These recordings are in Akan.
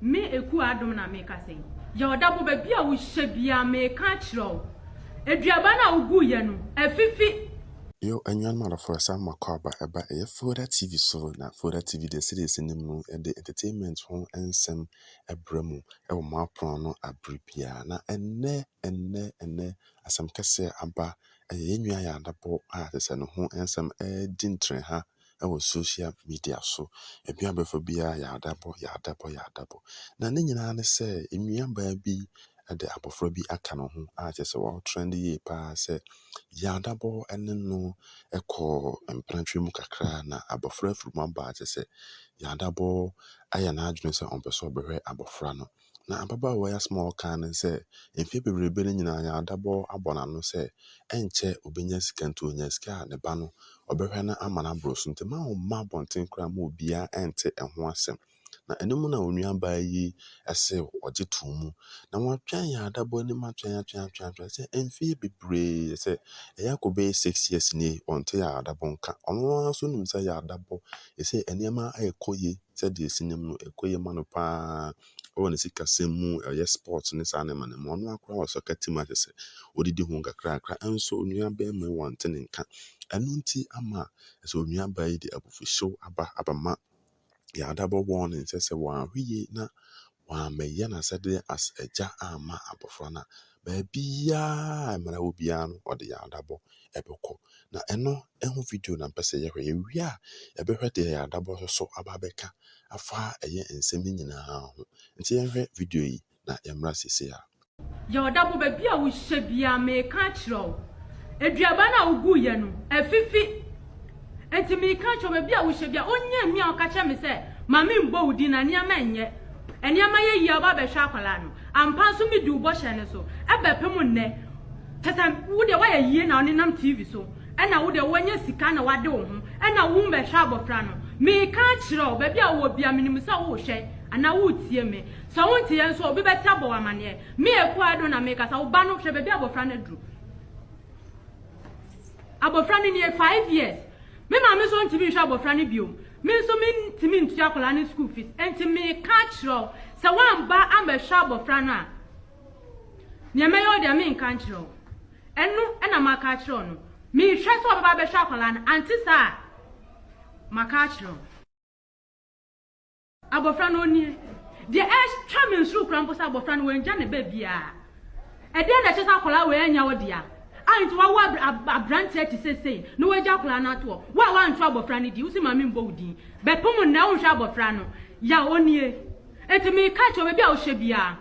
Me Ekuo Adom na mekasa yi. Yɛ ɔdabo baabi a wohyɛ biara meka akyerɛ wo. Aduaba no a woguiɛ no, afifi. Yo anuanom adɔfoɔ yɛsan mu akɔ aba ɛba ɛyɛ Folda TV so na Folda TV deɛ sɛdeɛ ɛsi nim no yɛde entertainment ho nsɛm ɛbrɛ mu ɛwɔ mo apono ano abere biara na ɛnnɛ ɛnnɛ ɛnnɛ asɛm kɛseɛ aba ɛyɛ yɛn nua Ayɛ Adabɔ a sɛsɛ ne ho nsɛm ɛɛdi ntrenha wɔ social media so. Baabi a wobɛfa biara yɛ adabɔ, yɛ adabɔ, yɛ adabɔ. Na ne nyinaa ne sɛ, nuabaa bi de abɔfra bi aka ne ho a kyerɛ sɛ ɔretrend yie paa sɛ, yɛ adabɔ ne no kɔ mprantwe mu kakra na abɔfra afiri mu aba a kyerɛ sɛ, yɛ adabɔ ayɛ n'adwene sɛ ɔmpɛ sɛ ɔbɛhwɛ abɔfra no. Na ababaawa yi asɛm a ɔkaa ne sɛ, mfeɛ bebrebe no nyinaa yɛn adabɔ abɔ n'ano sɛ ɛnkyɛ ɔbɛnya sika nti ɔnyaa sika a ne ba no ɔbɛhwɛ no ama no aboro so nti mma ɔmma abɔnten koraa mma obiara ɛnte ɛho asɛm. Na ɛno mu na onuabaa yi se ɔgye too mu. Na wɔatwɛn yɛn adabɔ anim atwɛn atwɛn atwɛn atwɛn sɛ mfeɛ bebree sɛ ɛyɛ akɔbɛyɛ six years nie ɔnte yɛn adabɔ nka. Ɔno ara nso nim sɛ yɛn adabɔ ɛsɛ nneɛma ɛrekɔ yie. sɛdeɛ ɛsi nim no ɛkɔ yie ma no paa ɛwɔ ne sikasɛm mu ɛyɛ sport ne saa nneɛma no mu ɔno akora wɔ soccer team a kyɛ sɛ ɔdidi ho kakrakra ɛnso onua bɛrima yi wɔnte ne nka ɛno nti ama ɛsɛ onua baa yi de abufuhyew aba abama yɛadabɔ wɔn ne nsɛ sɛ wɔahwe yie na wɔamɛyɛ n'asɛdeɛ as agya amma abɔfra no a Baabiara a mmara wɔ biara no, ɔde yɛn adabɔ bɛkɔ. Na ɛno ho video na mpɛ sɛ yɛhwɛ. Yɛwie a, yɛbɛhwɛ deɛ yɛn adabɔ no so aba abɛka afa ɛyɛ nsɛm no nyinaa ho. Nti yɛnhwɛ video yi na yɛmmra seesei ara. Yɛ ɔdabɔ baabi a wohyɛ biara, meka akyerɛ wo. Aduaba no a woguiɛ no, afifi. Enti mereka kyerɛ wo, baabi a wohyɛ biara, onnya nni a ɔka kyerɛ me sɛ, Ma memmɔ wo din na nneɛma nyɛ. Nneɛma yɛ yie a woba abɛhwɛ akwadaa no. Ampa nso medi wo bɔhyɛ no so. Ɛbɛpem nnɛ. Kyerɛ sɛ, wo deɛ woayɛ yie na wonenam TV so. Ɛna wo deɛ woanya sika na woade wo ho. Ɛna worebɛhwɛ abɔfra no. Mereka akyerɛ wo, baabi a wowɔ biara, menim sɛ worehwɛ anaa woretie me. Sɛ wonteɛ nso a, obi bɛte abɔ wo amanneɛ. Me Akuado na merekasa. Wo ba no, hwɛ baabi a abɔfra no aduru. Abɔfra no nie, five years. Me maame nso ntumi nhwɛ abɔfra no bio. Me nso mentumi ntua akwadaa no school fees. Enti meka akyerɛ wo, sɛ woamba ambɛhwɛ abɔfra no a, nea mɛyɛ wo deɛ menka nkyerɛ wo. Ɛno na maka akyerɛ wo no. Mehwɛ sɛ wɔbɛba abɛhwɛ akwadaa no, ante saa a, maka akyerɛ wo. Abɔfra no nie. Deɛ ɛtwa me nsuro koraa mpo sɛ abɔfra no wangya ne ba biara. Ɛdeɛn na ɛkyerɛ sɛ akwadaa wei annya wo dea a nti wawo aberanteɛ te sɛ sei na wagya akwadaa no ato hɔ? Wo a woanto abɔfra no din, wo se maame mmɔ wo din. Bɛpo mo nnɛ, wonhwɛ abɔfra no. Yaw, ɔnie. Enti meka kyerɛ wo, baabi a wohyɛ biara,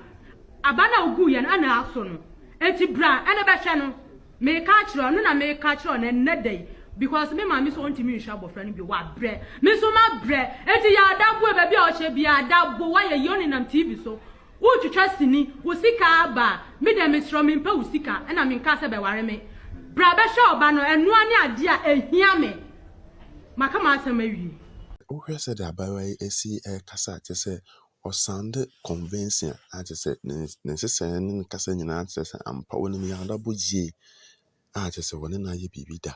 aba no a woguiɛ no, ɛna aso no. Enti bra na bɛhwɛ no. Meka akyerɛ ɔno na meka akyerɛ ɔno ɛnnɛ da yi because me maame so ɔntumi nhwɛ abɔfra no bio wabrɛ me nso mabrɛ enti yɛ adabue baabi a ɔkyɛ bia adabo wayɛ yie ɔnenam TV so wotwitwa sini wo sika aba a me deɛ mesrɛ mempɛ wo sika ɛna menkaa sɛ bɛware me bra bɛhwɛ ɔba no ɛnoa ne adeɛ a ɛhia me maka m'asɛm awie. Wohwɛ sɛdeɛ abaayewa yi asi rekasa te sɛ Ɔsaan dɛ convensia a kyerɛ sɛ ne ne nhyehyɛɛ ne ne kasa nyinaa kyerɛ sɛ ampa ɔnim Yarlabo yie a kyerɛ sɛ wɔne no ayɛ biribi da.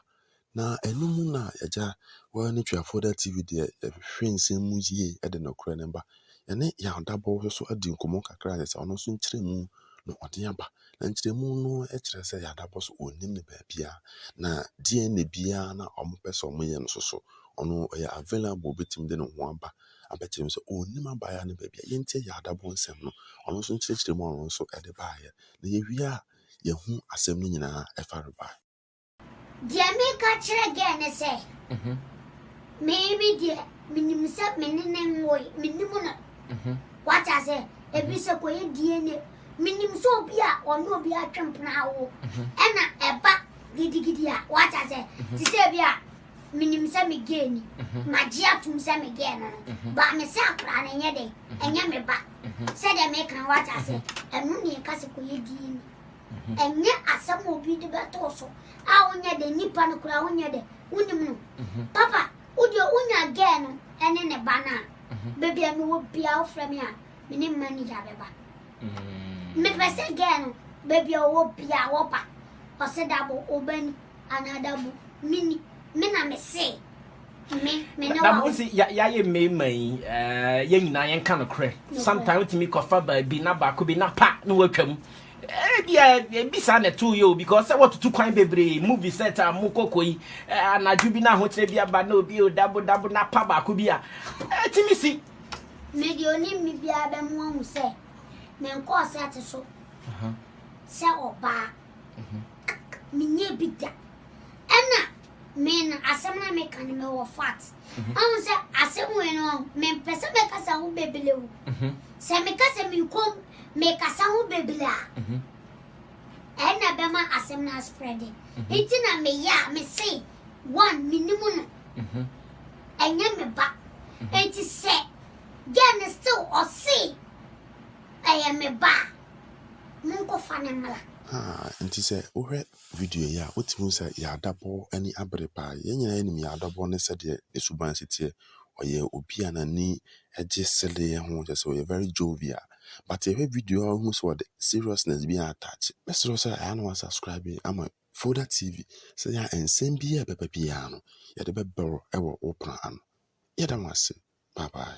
Na ɛno mu na agya wɔyɛ ne Tweafoda TV deɛ yɛhwehwɛ nsɛm mu yie de nokorɛ no ba. Yɛne Yarlabo nso so adi nkɔmmɔ kakra a kyerɛ sɛ ɔno nso nkyerɛmu na ɔde aba. Na nkyerɛmu no kyerɛ sɛ Yarlabo nso ɔnnim ne baabiara na DNA biara na wɔpɛ sɛ wɔyɛ no nso so ɔno ɔyɛ available bɛtumi de ne ho aba abɛkyerɛ me sɛ ɔnnim abaayewa no baabi a yɛntie yɛ adabɔ nsɛm no ɔno nso nkyerɛkyerɛ mu a ɔno nso ɛde baeɛ na yɛwie a yɛhu asɛm no nyinaa ɛfa rebae. Deɛ meka kyerɛ girl no sɛ me me deɛ menim sɛ me ne ne nwoe menim no wate ase ebi sɛ kɔyɛ DNA menim sɛ obi a ɔne obi atwe mpena awo ɛna ɛba gidigidi a wate ase te sɛ ebi a menim sɛ me gay ni, mhm. magye atom sɛ me gay no no, mhm. ba me sɛ akora no nyɛ dɛn, mhm. ɛnyɛ me ba. Sɛdeɛ meka no wate ase, ɛno ne ɛka sɛ kɔyɛ dii ni. Ɛnyɛ asɛm a obi de bɛtoo so a wonyɛ dɛ nipa no koraa wonyɛ dɛ wonim no. Papa, wodeɛ wonya gay no ɛne ne ba no a, baabi a mewɔ biaa wofrɛ me a, me ne mma ni gya bɛba. Mepɛ sɛ gay no baabi a ɔwɔ biaa wɔba, ɔsɛ dabo, ɔbani. Anadabu, me ni, me na me se, me, me ne wawo. Sɛ yɛayɛ mmarima yi, eh, yɛn nyinaa yɛnka nokorɛ. Sometimes wotumi kɔfa baabi na baako bi na pa na watwam. Ebia eh, ebi saa na ɛtoo yɛ o because sɛ wɔtutu kwan bebree movie set a mo kɔkɔ yi eh, anadwo bi na ahokyerɛ bi aba na obi o dabo dabo na pa baako bi a ɛtumi si. Mede onim me biara bɛmo ahu sɛ menkɔɔ sɛte so sɛ ɔbaa. menyɛ bi da ɛna me no asɛm na meka no mewɔ fat ɔhu sɛ asɛm wei no mempɛ sɛ mɛkasa ho bebele o sɛ meka sɛ mekom mekasa ho bebele a ɛna bɛma asɛm no asprɛde nti na meyɛ a mese one menim no ɛnyɛ me ba nti sɛ gɛ no still ɔse Ɛyɛ me ba a, monkɔfa no mmra. Haa, nti sɛ wohwɛ video yi a, wotumi hu sɛ Yaadabɔ ani abere paa. Yɛn nyinaa nim Yaadabɔ ne sɛdeɛ ne suban si teɛ. Ɔyɛ obi a n'ani gye seleɛ ho, kyerɛ sɛ ɔyɛ very jovial. But yɛhwɛ video yi a, wohu sɛ ɔde seriousness bi attach. Mɛsrɛ sɛ ɛyɛ a na wasubscribe ama Folda TV, sɛ ɛyɛ a nsɛm biara a ɛbɛba biara no, yɛde bɛbrɛ wɔ wo pono ano. Yɛda mo ase. Bye bye.